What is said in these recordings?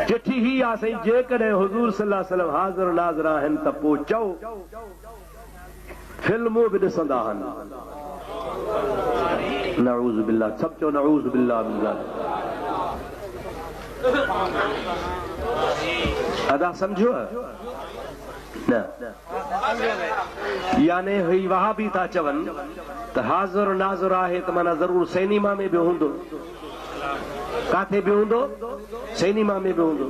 چٺي هي آ سائين جيڪڏهن حضور صلي الله عليه وسلم حاضر الحاضر آهن ته پو چئو فلمون به ڏسندا هن نعوذ بالله سڀ چئو نعوذ بالله من ذالڪ ادا سمجهيو نه يعني هي وهابي ٿا چون ته حاضر ناظر آهي ته معنيٰ ضرور سينيما ۾ به هوندو ڪاٿي به هوندو، سيني ما ۾ به هوندو.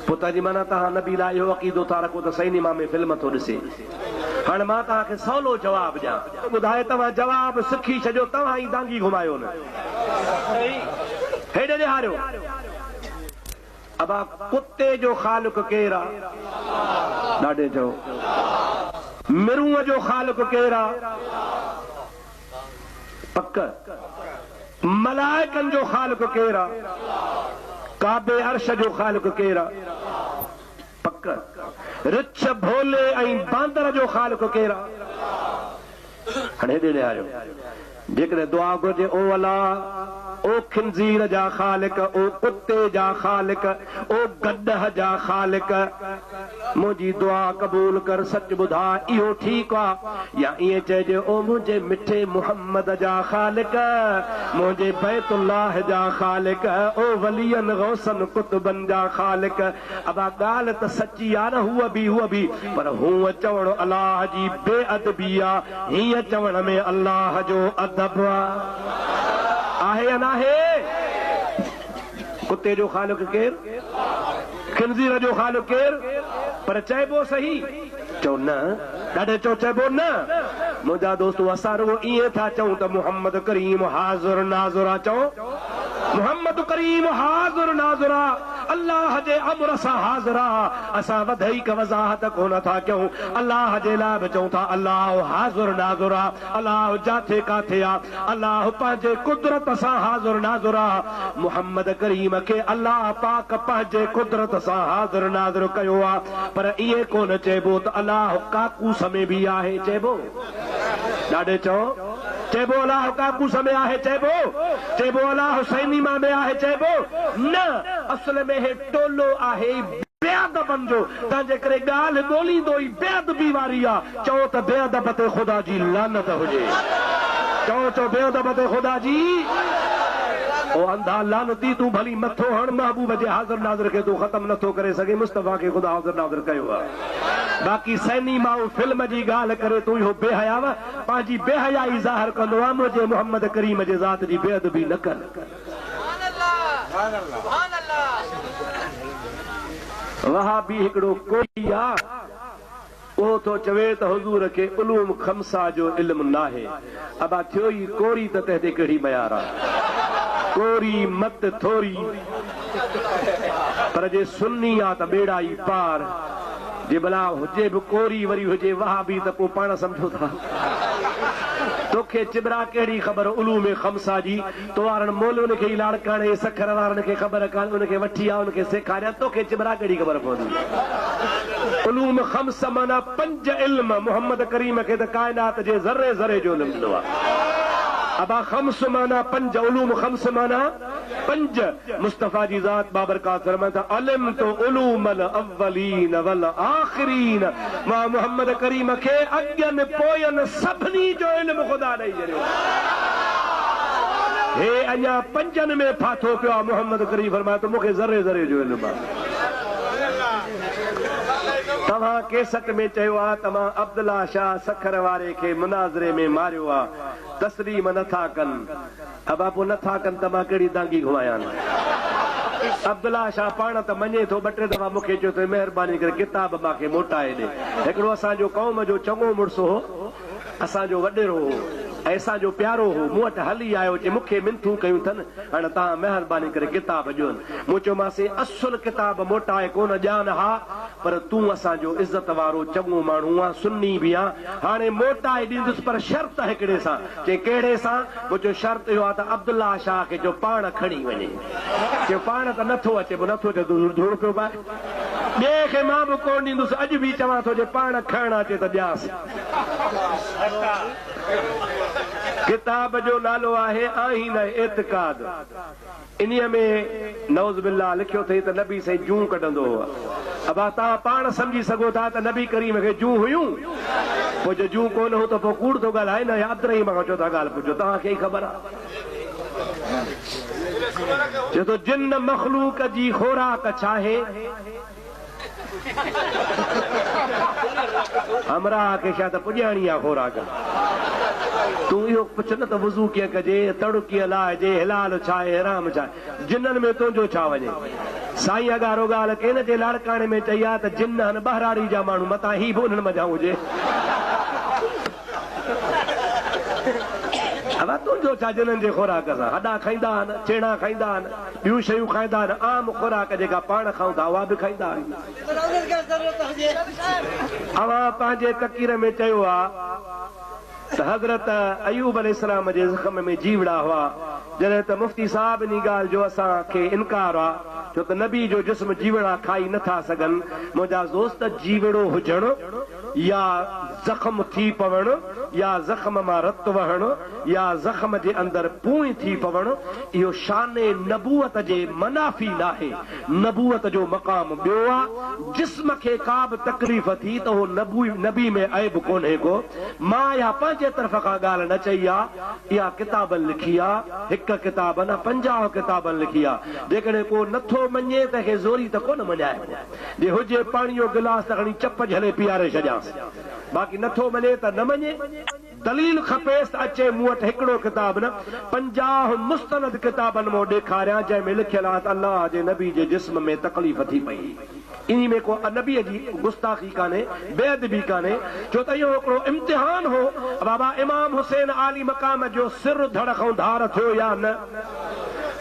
پوء تنهن جي معنيٰ تهان نبي لاء اهو عقيدو ٿا رکو ته سيني ما ۾ فلم ٿو ڏسي. هاڻ مان تهان کي سولو جواب ڏيان. ٻڌاء توهان جواب سکي ڇڏيو توهان ئي دانگي گهمايو نه. هيڏي ڏيهاريو. ابا ڪتي جو خالق ڪير آ؟ ڏاڍي چئو. مرونء جو خالق ڪير آ؟ پڪ ملائڪن جو خالق ڪير آ؟ ڪعبي عرش جو خالق ڪير آ؟ پڪ رڇ ڀولي ۽ باندر جو خالق ڪير آ؟ هاڻي هيڏي نهاريو جيڪڏهن دعا گهرجي او الا او خنزير جا خالق او ڪتي جا خالق او گڏهه جا خالق منهنجي دعا قبول ڪر سچ ٻڌاء اهو ٺيڪ آ يا ائين چئجي او منهنجي مٺي محمد جا خالق منهنجي بيت الله جا خالق او ولين غوثن قطبن جا خالق ابا ڳالهه ته سچي آ نه هوء به هوء به پر هونء چوڻ الله جي بي ادبي آ هينء چوڻ ۾ الله جو ادب آهي يا ناهي؟ ڪتي جو خالق ڪير؟ خنزير جو خالق ڪير؟ پر چئبو سهي؟ چئو نه. ڏاڍي چئو چئبو نه. منهنجا دوستو اسان رڳو ائين ٿا چئون ته محمد ڪريم حاضر ناظر آ. چئو محمد ڪريم حاضر ناظر آ. الله جي امر سان حاضر آ. اسان وڌيڪ وضاحت ڪونه ٿا ڪيون. الله جي لاء به چئون ٿا الله حاضر ناظر آ. الله جاٿي ڪاٿي آ، الله پنهنجي قدرت سان حاضر ناظر آ، محمد ڪريم کي الله پاڪ پنهنجي قدرت سان حاضر ناظر ڪيو آ، پر ائين ڪونه چئبو ته الله ڪاڪوس ۾ به آهي، چئبو؟ ڏاڏي چئو، چئبو الله ڪاڪوس ۾ آهي، چئبو؟ چئبو الله حسيني مان به آهي، چئبو؟ نه، اصل ۾ هي. ٽولو آهي ئي بي ادبن جو، تنهن جي ڪري ڳالهه ڳوليندو ئي بي ادبي واري آ، چئو ته بي ادب تي خدا جي لعنت هجي. چئو چئو بي ادب تي خدا جي. او انڌا لعنتي تون ڀلي مٿو هڻ محبوب جي حاضر ناظر کي تون ختم نه ٿو ڪري سگهين مصطفيٰ کي خدا حاضر ناظر ڪيو آ باقي سئنيما ۽ فلم جي ڳالهه ڪري تون اهو بي حياء پنهنجي بي حيائي ظاهر ڪندو آ منهنجي محمد ڪريم جي ذات جي بي ادبي نه ڪر. وهابي هڪڙو ڪوئي آ اهو ٿو چوي ته حضور کي علوم خمسه جو علم ناهي ابا ٿيو ئي ڪوري ته تنهن تي ڪهڙي ميار آ ڪوري مت ٿوري پر جي سني آ ته ٻيڙا ئي پار جي ڀلا هجي به ڪوري وري هجي وهابي ته پو پاڻ سمجهو ٿا توکي چٻرا ڪهڙي خبر علوم خمسه جي توارڻ مول ان کي ئي لاڙڪاڻي جي سکر وارن کي خبر ڪانه ان کي وٺي آء ان کي سيکاريان توکي چٻرا ڪهڙي خبر پوندي. علوم خمسه معنيٰ پنج علم محمد ڪريم کي ته ڪائنات جي ذري ذري جو علم ڏنو آ ابا خمس معنيٰ پنج علوم خمس معنيٰ پنج. مصطفيٰ جي ذات بابرڪات فرمائن ٿا، علمت علوم الاولين والآخرين، مان محمد ڪريم کي اڳين پوئين سڀني جو علم خدا ڏئي ڇڏيو. هي اڃا پنجن ۾ ڦاٿو پيو آهي. محمد ڪريم فرمايو ته مون کي ذري ذري جو علم آهي. توهان ڪيسٽ ۾ چيو آهي ته مان عبدالله شاهه سکر واري کي مناظري ۾ ماريو آهي. تسليم نه ٿا ڪن. ابا پوء نه ٿا ڪن ته مان ڪهڙي دانگي گهمايان. عبدالله شاهه پاڻ ته مڃي ٿو، ٻه ٽي دفعا مون کي چيو اٿئي مهرباني ڪري ڪتاب مان کي موٽائي ڏي. هڪڙو اسان جو قوم جو چڱو مڙس هو، اسان جو وڏيرو هو ۽ اسان جو پيارو هو، مون وٽ هلي آيو، چي مون کي منٿون ڪيون اٿن، هاڻ توهان مهرباني ڪري ڪتاب ڏيون. مون چيومانس اصل ڪتاب موٽائي ڪونه ڏيان ها، پر تون اسان جو عزت وارو چڱو ماڻهو آن، سني به آن، هاڻي موٽائي ڏيندس پر شرط هڪڙي سان، چي ڪهڙي سان؟ مون چيو شرط اهو آ ته عبدالله شاهه کي چئو پاڻ کڻي وڃي. چيو پاڻ ته نه ٿو اچي. مون نه ٿو اچي ته ڌوڙ پيو پائي. ٻئي کي مان به ڪونه ڏيندس. اڄ به چوان ٿو جي پاڻ کڻڻ اچي ته ڏيانس. ڪتاب جو نالو آهي آئين اعتقاد. انهيء ۾ نعوذ بالله لکيو اٿئي ته نبي سائين جون ڪڍندو هو. ابا توهان پاڻ سمجهي سگهو ٿا ته نبي ڪريم کي جون هيون؟ پوء جي جون ڪو نه هون ته پوء ڪوڙ ٿو ڳالهائي نه يا عبدالرحيم کان چوٿا ڳالهه پڇو توهان کي ئي خبر آ جو جن مخلوق جي خوراڪ ڇاهي؟ همراهه کي شايد پڄاڻي آ خوراڪ. تون اهو پڇ نه ته وضو ڪيئن ڪجي، تڙو ڪيئن لاهجي، حلال ڇا ۽ حرام ڇا؟ جنن ۾ تنهنجو ڇا وڃي؟ سائين اڳارو ڳالهه ڪئي نه جي لاڙڪاڻي ۾ چئي آ ته جن ناهن ٻهراڙي جا ماڻهو متان هي به انهن منجهان هجي. ادا تنهنجو ڇا جنن جي خوراڪ سان هڏا کائيندا آهن، ڇيڻا کائيندا آهن. ٻيون شيون کائيندا آهن، عام خوراڪ جيڪا پاڻ کائون ٿا اها به کائيندا آهن. اوهان پنهنجي تقرير ۾ چيو ها ته حضرت ايوب عليه السلام جي زخم ۾ جيوڙا هئا جڏهن ته مفتي صاحب انهي ڳالهه جو اسان کي انڪار آ ڇو ته نبي جو جسم جيوڙا کائي نه ٿا سگهن منهنجا دوست جيوڙو هجڻ يا زخم ٿي پوڻ يا زخم مان رت وهڻ يا زخم جي اندر پونئين ٿي پوڻ اهو شان نبوت جي منافي ناهي، نبوت جو مقام ٻيو آ، جسم کي ڪا به تڪليف ٿي ته اهو نبي ۾ عيب ڪونهي ڪو، مان اها پنهنجي طرف کان ڳالهه نه چئي آ، اها ڪتابن لکي آ، هڪ ڪتاب نه پنجاهه ڪتابن لکي آ، جيڪڏهن ڪو نٿو مڃي تنهن کي زوري ته ڪونه مڃائبو. جي هجي پاڻي جو گلاس ته کڻي چپ جهلي پيئاري ڇڏيانس. باقي نٿو مڃي ته نه مڃي. دليل کپيس ته اچي مون وٽ هڪڙو ڪتاب نه پنجاهه مستند ڪتابن مان ڏيکاريان جنهن ۾ لکيل آهي ته الله جي نبي جي جسم ۾ تڪليف ٿي پئي. انهي ۾ ڪو نبي جي گستاخي ڪانهي، بي ادبي ڪانهي. ڇو ته اهو هڪڙو امتحان هو ته بابا امام حسين عالي مقام جو سر ڌڙ کان ڌار ٿيو يا نه.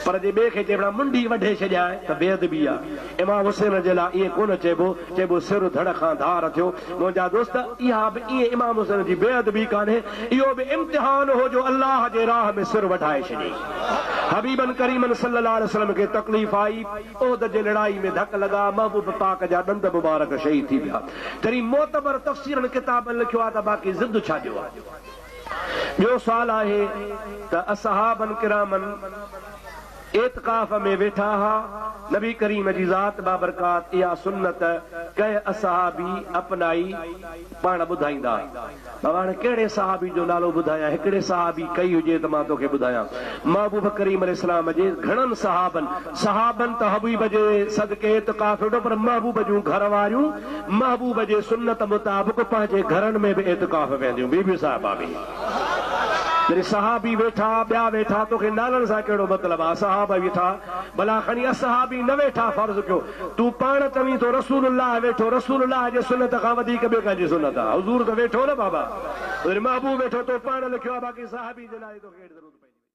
پر جي ٻئي کي چئبو ته منڍي وڍي ڇڏيانء ته بي ادبي آهي. امام حسين جي لاء ائين ڪونه چئبو، چئبو سر ڌڙ کان ڌار ٿيو. منهنجا دوست، اها به ائين امام حسين جي بي ادبي ڪانهي، اهو به امتحان هو جو الله جي راهه ۾ سر وڍائي ڇڏيئي. حبيبن ڪريمن صلي الله عليه وسلم کي تڪليف آئي، احد جي لڙائي ۾ ڌڪ لڳا، محبوب پاڪ جا ڏند مبارڪ شهيد ٿي ويا. ڪريم معتبر تفسيرن ڪتابن لکيو آهي ته باقي ضد ڇا ڏيو ها. ٻيو سوال آهي ته اصحاباً ڪراماً اعتڪاف ۾ ويٺا ها، نبي ڪريم جي ذات بابرڪات اها سنت ڪنهن اصحابي اپنائي؟ پاڻ ٻڌائيندا. بابا هاڻي ڪهڙي صحابي جو نالو ٻڌايان، هڪڙي صحابي ڪئي هجي ته مان توکي ٻڌايان. محبوب ڪريم عليه السلام جي گهڻن صحابن، صحاباً ته حبيب جي صدقي اعتڪاف ويٺو پر محبوب جون گهر واريون، محبوب جي سنت مطابق پنهنجي گهرن ۾ به اعتڪاف ويهنديون بيبيون صاحبا به يعني صحابي ويٺا ٻيا ويٺا توکي نالن سان ڪهڙو مطلب آ صحابا ويٺا ڀلا کڻي اصحابي نه ويٺا فرض ڪيو تون پاڻ چوين ٿو رسول الله ويٺو رسول الله جي سنت کان وڌيڪ ٻي ڪنهن جي سنت آ حضور ته ويٺو نه بابا يعني محبوب ويٺو تو پاڻ لکيو آ باقي صحابي جي نالي توکي ڪهڙي ضرورت پئجي وئي.